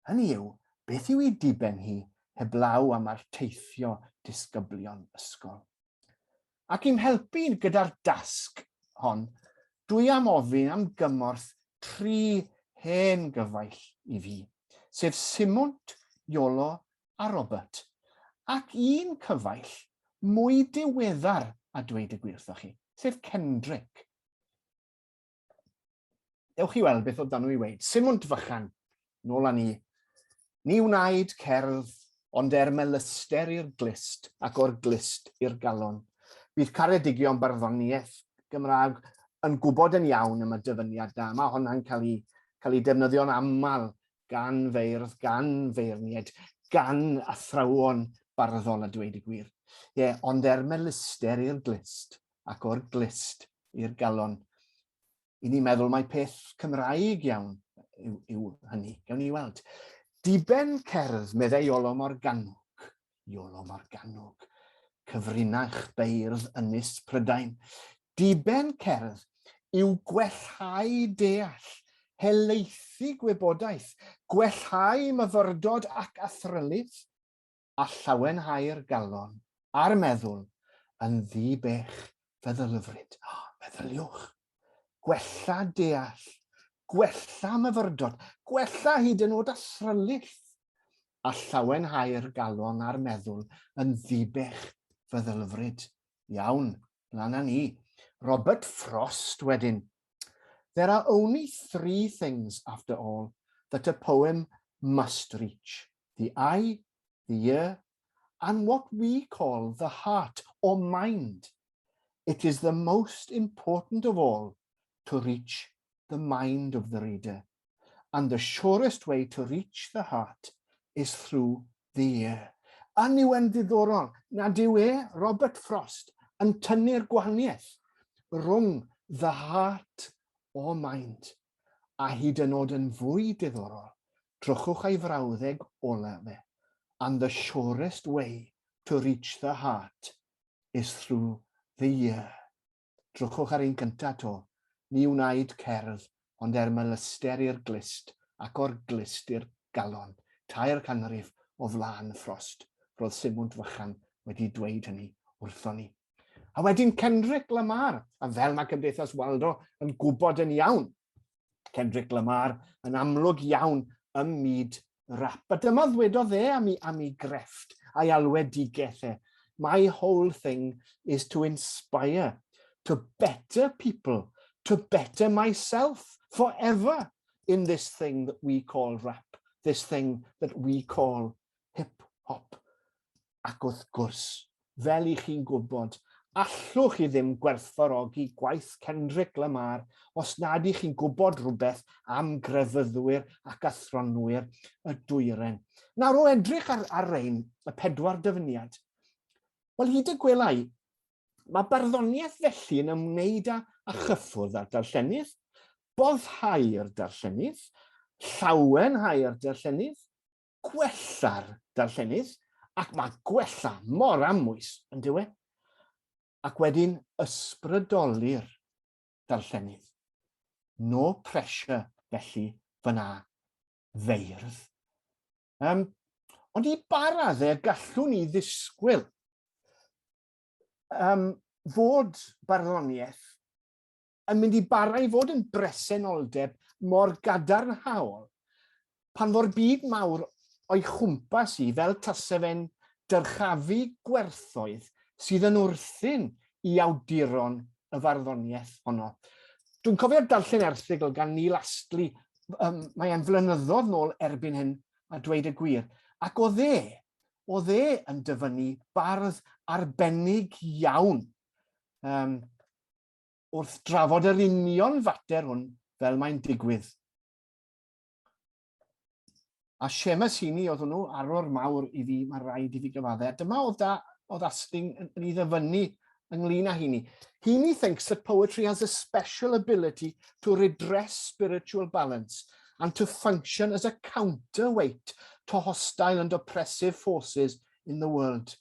hynny yw, beth yw ei diben hi heblaw am arteithio disgyblion ysgol? Ac i'm helpu gyda'r dasg hon, dwi am ofyn am gymorth tri hen gyfaill i fi, sef Simwnt, Iolo a Robert, ac un cyfaill mwy diweddar a dweud y gwir wrthoch chi, sef Kendrick. Ewch i weld beth oedd dan nhw i weid. Simwnt fychan, nôl â ni. Ni wnaed cerdd, ond er melyster i'r glist ac o'r glist i'r galon. Bydd caredigion barddoniaeth Gymraeg yn gwybod yn iawn am y dyfyniad da. Mae honna'n cael ei, cael ei defnyddio'n aml Gan feirdd, gan feirniaid, gan athrawon barddol a dweud y gwir. Ie, ond er melyster i'r glust, ac o'r glust i'r galon. I ni meddwl mai peth Cymraeg iawn yw, yw hynny. Gawn ni weld. Diben cerdd, meddai Olo Morgannwg, Iolo Morgannwg, cyfrinach beirdd Ynys Prydain. Diben cerdd yw gwellhau deall, helaethu gwybodaeth, gwellhau myfyrdod ac athrylith, a llawenhau'r galon a'r meddwl yn ddi-bech feddylyfryd. Meddyliwch, gwella deall, gwella myfyrdod, gwella hyd yn oed asrylith, a llawenhau'r galon a'r meddwl yn ddibech feddylfryd. Iawn, lan â ni. Robert Frost wedyn. There are only three things, after all, that a poem must reach, the eye, the ear and what we call the heart or mind, it is the most important of all to reach the mind of the reader, and the surest way to reach the heart is through the ear. Yn yw e'n ddiddorol nad yw e, Robert Frost, yn tynnu'r gwahaniaeth rhwng the heart or mind, a hyd yn oed yn fwy diddorol, Trwchwch ei frawddeg ola fe, And the surest way to reach the heart is through the ear. Trwchwch ar ein gynta 'to, ni wnaed cerdd ond er melyster i'r glust ac o'r glust i'r galon, tair canrif o flaen Frost, ro'dd Simwnt fychan wedi dweud hynny wrthon ni. A wedyn Kendrick Lamar, a fel ma' Cymdeithas Waldo yn gwbod yn iawn, Kendrick Lamar yn amlwg iawn ym myd rap. A dyma ddwedodd e am i, am i grefft a'i alwedigeth e, My whole thing is to inspire, to better people, to better myself forever in this thing that we call rap, this thing that we call hip-hop. ac wrth gwrs, fel i chi'n gwybod, allwch chi ddim gwerthfawrogi gwaith Kendrick Lamar os nad i chi'n gwybod rhywbeth am grefyddwyr ac athronwyr y dwyren. Nawr, o edrych ar, ar rein, y pedwar dyfyniad, wel, hyd y gwelai, mae barddoniaeth felly yn ymwneud â, â chyffwrdd â'r darllenydd, boddhau'r darllenydd, llawenhau'r darllenydd, gwella'r darllenydd ac mae gwella mor amwys yn dyw e? Ac wedyn ysbrydoli'r darllenydd. No pressure felly fyna feirdd. Um, ond i ba raddau gallwn ni ddisgwyl um, fod barddoniaeth yn mynd i bara i fod yn bresenoldeb mor gadarnhaol pan fo'r byd mawr o'i chwmpas i fel tase fe'n dyrchafu gwerthoedd sydd yn wrthyn i awduron y farddoniaeth honno. Dwi'n cofio darllen erthygl gan Neil Astley, um, mae e'n flynyddoedd nôl erbyn hyn, a dweud y gwir, ac o dde, o dde yn dyfynnu bardd arbennig iawn um, wrth drafod yr union fater hwn fel mae'n digwydd. A Seamus Heaney oedd hwnnw, arwr mawr i fi, mae rhaid i fi gyfaddau. A dyma oedd, da, oedd Asting yn, yn ei ddyfynnu ynglyn â Heaney. Heaney thinks that poetry has a special ability to redress spiritual balance and to function as a counterweight to hostile and oppressive forces in the world.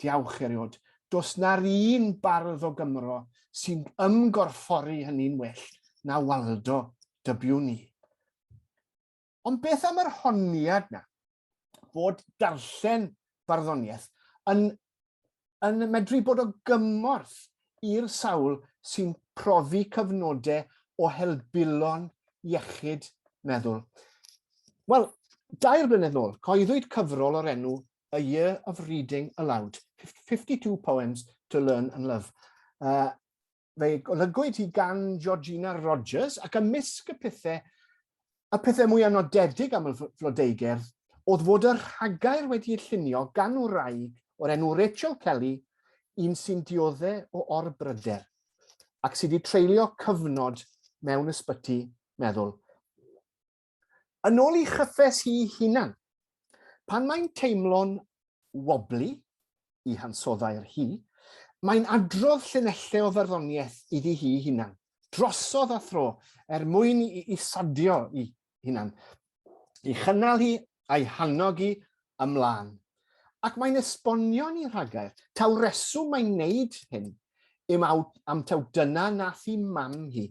Diawch eriod. Does na'r un bardd o Gymro sy'n ymgorffori hynny'n well na Waldo, dybiwn ni. Ond beth am yr honiad na, bod darllen barddoniaeth yn, yn medru bod o gymorth i'r sawl sy'n profi cyfnodau o helbulon iechyd meddwl. Wel, dair blynedd nôl, coeddwyd cyfrol o'r enw a year of reading aloud, 52 poems to learn and love. Uh, fe golygwyd hi gan Georgina Rogers ac ymysg y pethau, y pethau mwy anodedig am y flodeugerdd oedd fod y rhagair wedi ei llunio gan wraig o'r enw Rachel Kelly, un sy'n diodde o orbryder ac sydd wedi treulio cyfnod mewn ysbyty meddwl. yn ôl i chyffes hi hunan. Pan mae'n teimlo'n wobli i hansoddai'r hi, mae'n adrodd llinellau o farddoniaeth iddi hi hunan, drosodd a thro, er mwyn i isadio i hunan, i chynnal hi a'i hannog i ymlaen, ac mae'n esbonio ni rhagair taw reswm mae'n neud hyn yw am taw dyna nath hi mam hi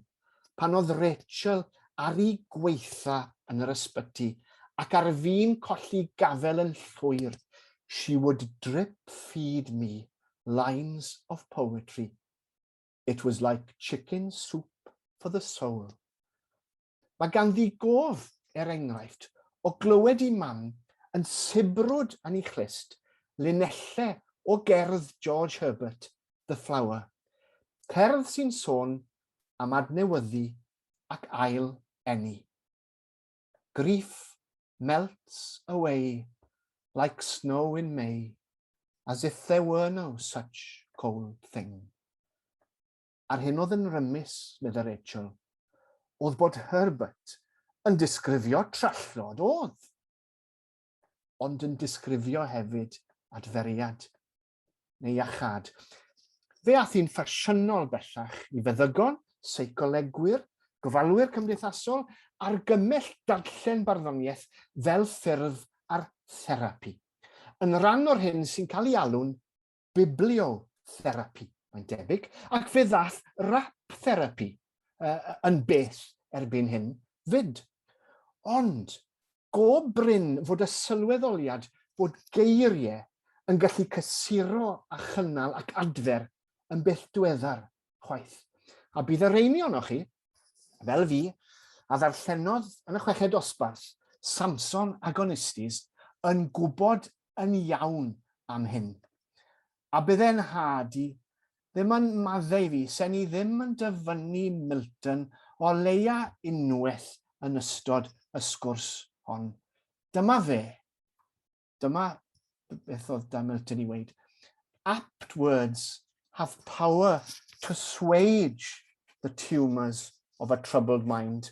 pan odd Rachel ar i gweitha yn yr ysbyty ac ar fin colli gafel yn llwyr she would drip feed me lines of poetry it was like chicken soup for the soul Mae ganddi gof, er enghraifft, o glywed i Mam yn sibrwd yn ei chlust linellau o gerdd George Herbert, The Flower, cerdd sy'n sôn am adnewyddu ac ail eni. Grief melts away like snow in May, as if there were no such cold thing. a'r hyn oedd yn rymus, medda Rachel, oedd bod Herbert yn disgrifio trallod oedd, ond yn disgrifio hefyd adferiad neu iachad. Fe ath hi'n ffasiynol bellach i feddygon, seicolegwyr, gofalwyr cymdeithasol, argymell darllen barddoniaeth fel ffurf ar therapi, yn rhan o'r hyn sy'n cael ei alw'n bibliotherapi, mae'n debyg, ac fe ddath rap therapi uh, yn bell erbyn hyn fyd. Ond, go bryn fod y sylweddoliad fod geiriau yn gallu cysuro a chynnal ac adfer yn bell dweddar chwaith. A bydd y reini o'ch chi, fel fi, a ddarllenodd yn y chweched dosbarth, Samson Agonistes, yn gwybod yn iawn am hyn. A bydde 'nhad i ddim yn maddau fi se'n i ddim yn dyfynnu Milton o leia unwaith yn ystod y sgwrs hon. Dyma fe. Dyma beth oedd da Milton i weud. Apt words have power to swage the tumours of a troubled mind.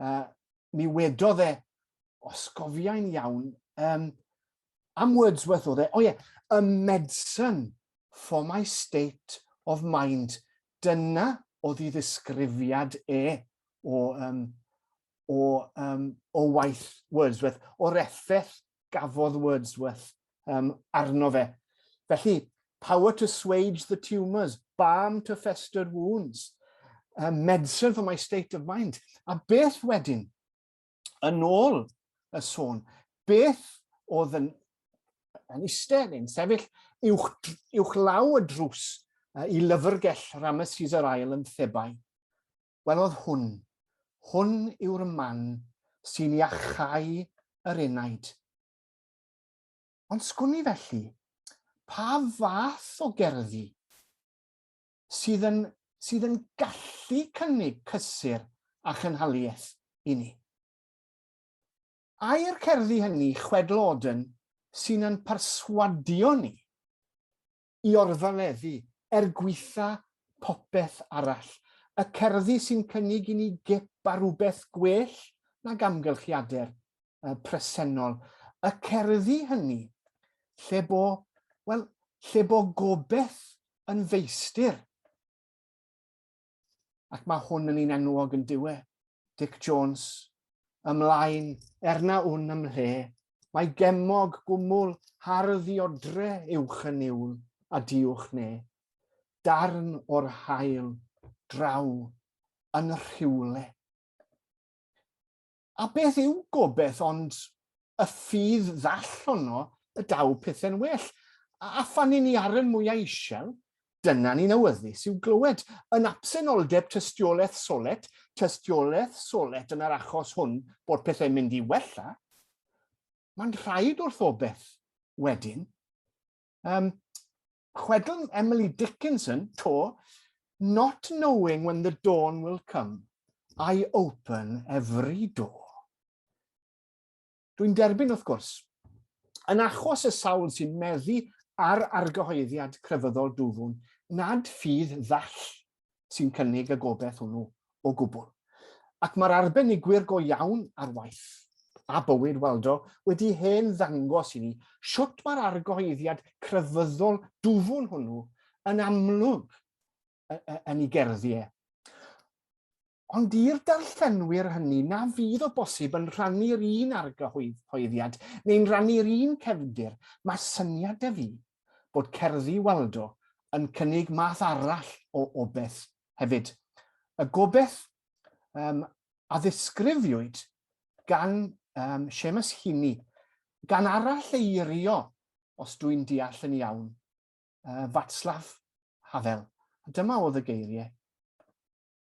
uh, mi wedodd e, os gofiau'n iawn, um, am Wordsworth oedd e, o oh ie, yeah, a medicine for my state of mind. Dyna oedd i ddisgrifiad e o, um, o, um, o waith Wordsworth, o'r effaith gafodd Wordsworth um, arno fe. Felly, power to swage the tumours, balm to fester wounds, um, medicine for my state of mind. A beth wedyn, yn ôl y sôn, beth oedd yn, yn eistedd yn sefyll uwch, uwch law y drws uh, i lyfrgell Ramesses yr ail yn Thebai. Welodd hwn, hwn yw'r man sy'n iachau yr enaid. Ond sgwn i felly, pa fath o gerddi sydd yn, sydd yn gallu cynnig cysur a chynhaliaeth i ni? Ai'r cerddi hynny chwedl Auden sy'n yn perswadio ni? i orfaleddu, er gwaetha popeth arall. Y cerddi sy'n cynnig i ni gip ar rywbeth gwell nag amgylchiader presennol. Y cerddi hynny lle bo, wel, lle bo gobeth yn feistir. ac mae hwn yn un enwog yn diwe, Dic Jones, ymlaen, erna wn ymhle, mae gemog gwmwl hardd i odre uwch yn niwl, a diwch ne, darn o'r hael, draw, yn rhywle. A beth yw gobeth ond y ffydd ddall honno y daw pethe'n well, a phan ni'n i arren mwyau isel, dyna ni'n awyddus i'w glywed. Yn absenoldeb tystiolaeth solet, tystiolaeth solet yn yr achos hwn bod pethe'n mynd i wella, mae'n rhaid wrth obeth, wedyn, um, Chwedl Emily Dickinson, to, Not knowing when the dawn will come, I open every door. Dwi'n derbyn, wrth gwrs. Yn achos y sawl sy'n meddu ar argyhoeddiad crefyddol dwfwn, nad ffydd ddall sy'n cynnig y gobaith hwnnw o gwbl. Ac mae'r arbenigwyr go iawn ar waith, a bywyd Waldo, wedi hen ddangos i ni sut mae'r argyhoeddiad crefyddol dwfwn hwnnw yn amlwg yn ei gerddiau. Ond i'r darllenwyr hynny na fydd o bosib yn rhannu'r un argyhoeddiad neu'n rannu'r un cefndir, mae syniad 'da fi bod cerddi Waldo yn cynnig math arall o obeth hefyd. Y gobeth um, a ddisgrifiwyd gan um, Seamus Heaney, gan arall eirio, os dwi'n deall yn iawn, uh, Fatslav Havel. Dyma oedd y geiriau.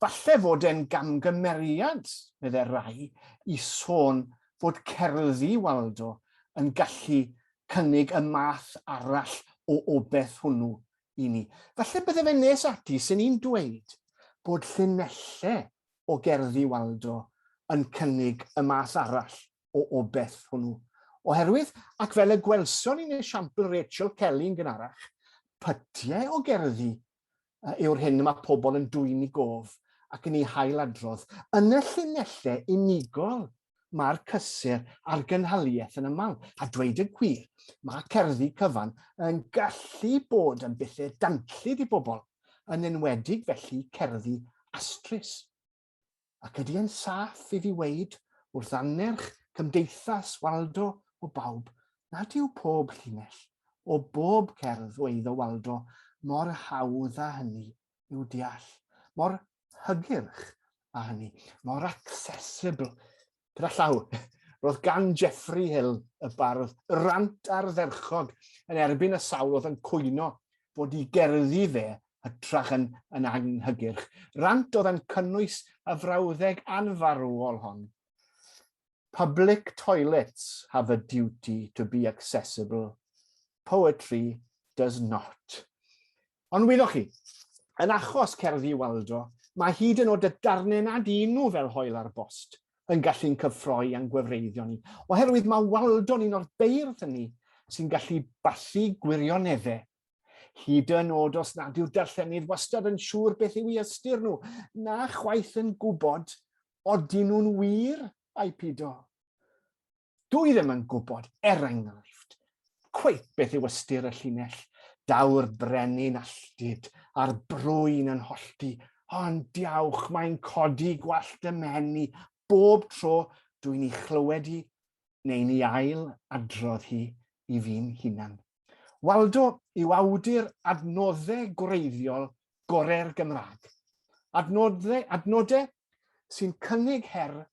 Falle fod e'n gamgymeriad, meddai Ray, i sôn fod cerddi Waldo yn gallu cynnig y math arall o obeth hwnnw i ni. Falle bydde fe'n nes ati 'sen i'n dweud bod llinelle o gerddi Waldo yn cynnig y math arall o obeth hwnnw. Oherwydd, ac fel y gwelson ni'n esiampl Rachel Kelly yn gynharach, pytiau o gerddi yw'r hyn y mae pobl yn dwyn i gof ac yn ei hail-adrodd. Yn y llinellau unigol mae'r cysur a'r gynhaliaeth yn aml, a dweud y gwir, mae cerddi cyfan yn gallu bod yn bethe danllyd i bobl, yn enwedig felly cerddi astrus. ac ydy e'n saff i fi weud wrth annerch Cymdeithas Waldo o bawb nad yw pob llinell o bob cerdd o eiddo Waldo mor hawdd â hynny i'w deall, mor hygyrch â hynny, mor accessible Gyda llaw, roedd gan Jeffrey Hill y bardd rant ardderchog yn erbyn y sawl oedd yn cwyno bod i gerddi fe hytrach yn, yn anghygyrch. Rant oedd yn cynnwys y frawddeg anfarwol hon. Public toilets have a duty to be accessible. Poetry does not. Ond wyddoch chi, yn achos cerddi Waldo, mae hyd yn oed y darnau nad un nhw fel hoel ar bost yn gallu'n cyffroi a'n gwefreiddio ni, oherwydd mae Waldo'n un o'r beirdd hynny sy'n gallu bathu gwirioneddau, hyd yn oed os nad yw'r darllenydd wastad yn siŵr beth yw i ystyr nhw, na chwaith yn gwybod odyn nhw'n wir ai pido. Dw i ddim yn gwybod, er enghraifft, cweit beth yw ystyr y llinell, daw'r brenin alltud a'r brwyn yn hollti, ond diawch mae'n codi gwallt y mhen i bob tro dwi'n i chlywed hi neu'n i ail adrodd hi i fi'n hunan. Waldo yw awdur adnoddau gwreiddiol gorau'r Gymraeg. Adnoddau, adnodau sy'n cynnig her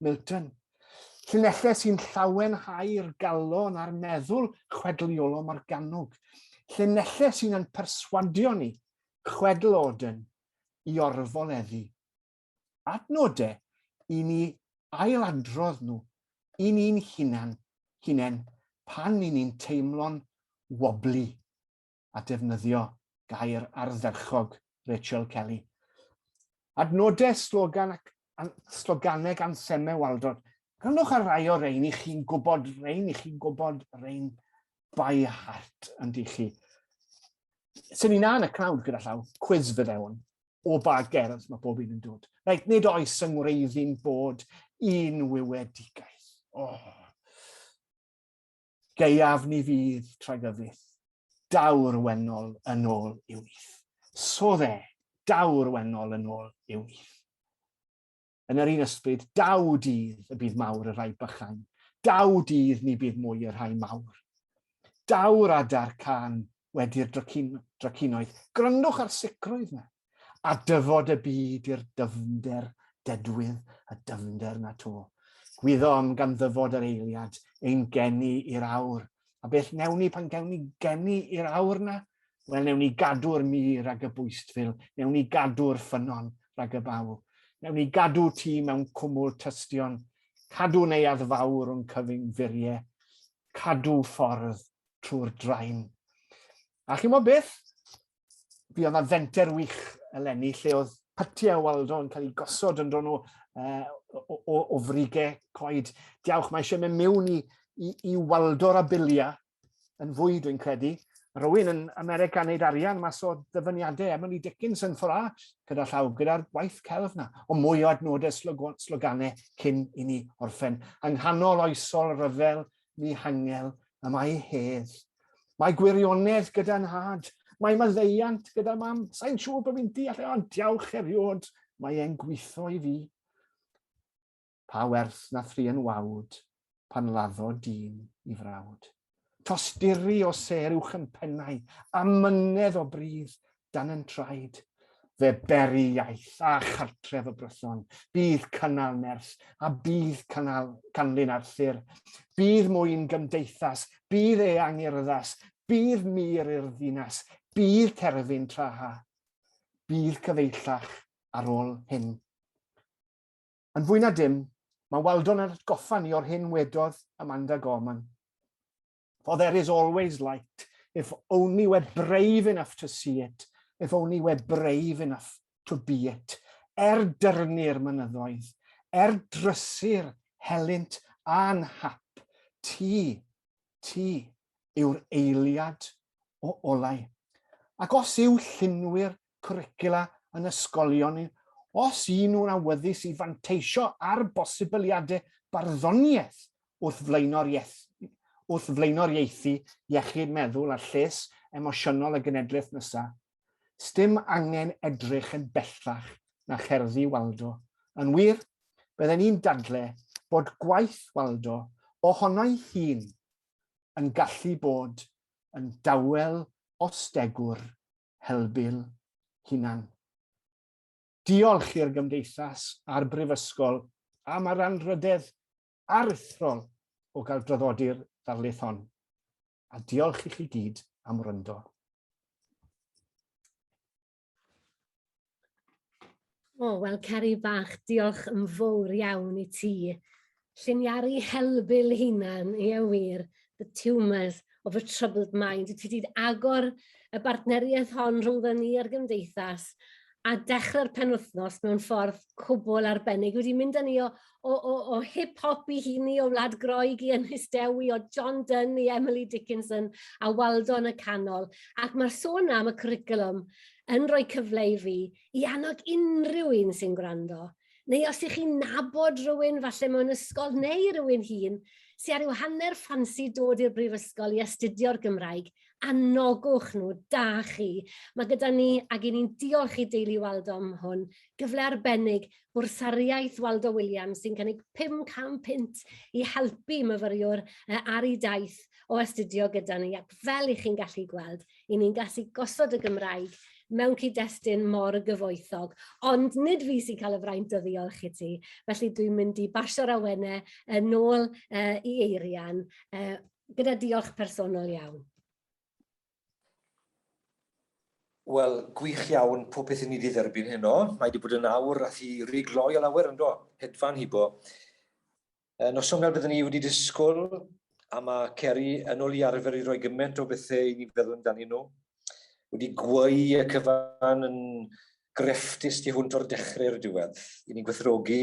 Milton. Llinellau sy'n llawenhau'r galon a'r meddwl chwedl Iolo Morgannwg. Llinellau sy'n yn perswadio ni, chwedl Auden, i orfoleddu. Adnodau i ni ailadrodd nhw i ni'n hunan, hunain pan i ni'n teimlo'n wobli. at ddefnyddio gair ardderchog Rachel Kelly. Adnodau slogan ac an, sloganeg ansemau Waldod. Rhannwch ar rai o rein i chi'n gwybod rein, i chi'n gwybod rein by heart yn di chi. Swn i'n an y crowd gyda llaw, quiz fydde hwn, o ba gerdd mae bob un yn dod. Reit, nid oes yng ngwreiddi'n bod un wywedigaeth. Oh. Geiaf ni fydd tragyfydd, daw'r wennol yn ôl i'w wyth. So dde, daw'r wennol yn ôl i'w wyth. Yn yr un ysbryd, daw dydd y bydd mawr y rhai bychain, daw dydd ni bydd mwy y rhai mawr. Daw'r adar can wedi'r dracin, dracinoedd. Gryndwch ar sicrwydd me, a dyfod y byd i'r dyfnder dedwydd y dyfnder na to. Gwyddom gan ddyfod yr eiliad ein geni i'r awr, a beth newn ni pan gewn ni geni i'r awr na? Wel, newn ni gadw'r mir ag y bwystfil, newn ni gadw'r ffynon rhag y baw, newn ni gadw ti mewn cwmwl tystion, cadw neuadd fawr o'n cyfyngfuriau, cadw ffordd trwy'r drain. A chi'n gwybod beth? Fi oedd na fenter wych eleni lle oedd pytiau o Waldo yn cael eu gosod yn dron nhw uh, o, o, o frige coed. Diawch, mae eisiau mynd mewn i, i, i Waldo'r abilia yn fwy, dwi'n credu. Rwy'n yn America yn neud arian mas o ddyfyniadau Emily Dickinson ffora gyda llaw, gyda'r gwaith celf na, o mwy o adnodau sloganau cyn i ni orffen. Yng nghanol oesol ryfel ddihangel y mae hedd. Mae gwirionedd gyda nhad, mae maddeiant gyda mam. Sa'n siŵr bod fi'n deall e, ond diawch eriod, mae e'n gweithio i fi. Pa werth na thri yn wawd, pan laddo dyn i frawd. Tosturi o ser uwch yn pennau, a mynedd o brydd, dan yn traed. Fe beri iaith a chartref y brython, bydd cynnal nerth a bydd cynnal canlyn Arthur. Bydd mwyn gymdeithas, bydd eang i'r yddas, bydd mir i'r ddinas, bydd terfyn traha. Bydd cyfeillach ar ôl hyn. Yn fwy na dim, mae Waldon yn atgoffa ni o'r hyn wedodd Amanda Gorman. For there is always light, if only we're brave enough to see it, if only we're brave enough to be it. Er dyrnu'r mynyddoedd, er drysu'r helynt a'n hap, ti, ti yw'r eiliad o olau. Ac os yw llunwyr cwricwla yn ysgolion ni, os y'n nhw'n awyddus i fanteisio ar bosibiliadau barddoniaeth wrth flaenoriaethu iechyd meddwl a lles emosiynol y genedlaeth nesa'. Sdim angen edrych yn bellach na cherddi Waldo. Yn wir, bydden i'n dadle bod gwaith Waldo ohono'i hun yn gallu bod yn dawel os degwr helbul hunan. Diolch i'r Gymdeithas a'r Brifysgol am yr anrhydedd aruthrol o gael draddodi'r ddarlith hon. A diolch i chi gyd am wrando. O, wel, Ceri Bach, diolch yn fawr iawn i ti. Lliniaru helbul hunan, ie wir, the tumours of a troubled mind. Ti wedi agor y bartneriaeth hon rhwng dda ni a'r gymdeithas a dechrau'r penwythnos mewn ffordd cwbl arbennig. Wedi mynd â ni o, o, o, o hip-hop i hini, o Wlad Groeg i Ynys Dewi, o John Dunn i Emily Dickinson, a Waldo yn y canol. Ac mae'r sôn am y cwricwlwm yn rhoi cyfle i fi i annog unrhyw un sy'n gwrando, neu os ych chi'n nabod rhywun falle mewn ysgol neu rhywun hun, sy'n ar yw hanner ffansi dod i'r brifysgol i astudio'r Gymraeg, anogwch nhw, da chi. Mae gyda ni, ac i ni'n diolch i Deulu Waldo am hwn, gyfle arbennig Bwrsariaeth Waldo Williams sy'n cynnig 500 punt i helpu myfyriwr ar ei daith o astudio gyda ni, ac fel i chi'n gallu gweld, i ni'n gallu gosod y Gymraeg mewn cyd-destun mor gyfoethog, ond nid fi sy'n cael y fraint o ddiolch i ti, felly dwi'n mynd i basio'r awene yn ôl i Eirian, gyda diolch personol iawn. Wel, gwych iawn, popeth i ni 'di dderbyn heno. Mae 'di bod yn awr ath i ry gloi o lawer yndo? Hedfan hibo. Yy, noson fel byddwn ni wedi disgwyl, a ma' Ceri yn ôl i arfer i roi gyment o bethe i ni feddwl amdanyn nhw. Wedi gweu y cyfan yn grefftus tu hwnt o'r dechre i'r diwedd. I ni'n gwerthfawrogi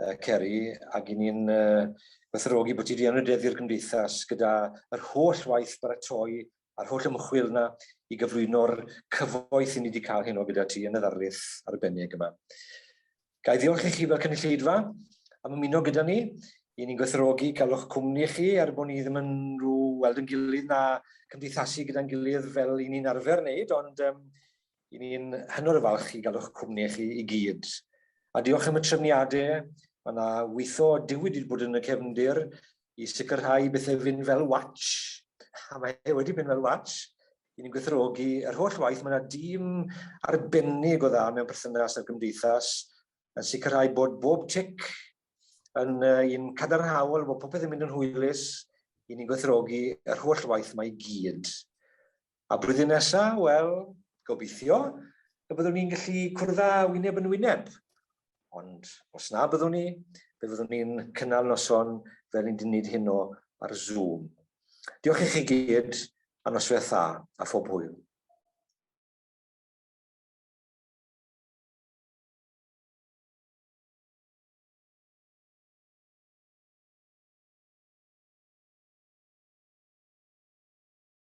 uh, Ceri, ac i ni'n uh, gwerthorogi bod ti wedi anrhydeddu'r gymdeithas gyda yr holl waith baratoi a'r holl ymchwil yna i gyflwyno'r cyfoeth i ni wedi cael heno gyda ti yn y ddarlith arbennig yma. Ga i ddiolch i chi fel cynulleidfa am ymuno gyda ni. I ni'n gwerthorogi cael o'ch cwmni chi er bod ni ddim yn rhyw weld yn gilydd na cymdeithasu gyda'n gilydd fel i ni'n arfer wneud, ond um, I ni'n hynod o falch i gael o'ch cwmni chi i gyd. A diolch am y trefniadau. Mae yna weithio diwyd wedi bod yn y cefndir i sicrhau bethau fynd fel watch. A mae e wedi mynd fel watch. I ni'n gwerthorogi yr holl waith. Mae yna dîm arbennig o dda mewn perthynas â'r gymdeithas yn sicrhau bod bob tic yn un cadarnhaol, bod popeth yn mynd yn hwylus. I ni'n gwerthorogi yr holl waith mae i gyd. A blwyddyn nesa, wel, gobeithio y byddwn ni'n gallu cwrdd â wyneb yn wyneb. Ond os na byddwn ni, fe fyddwn ni'n cynnal noson fel ni'n dynid heno ar Zoom. Diolch i chi gyd, a nosweth dda, a phob hwyl.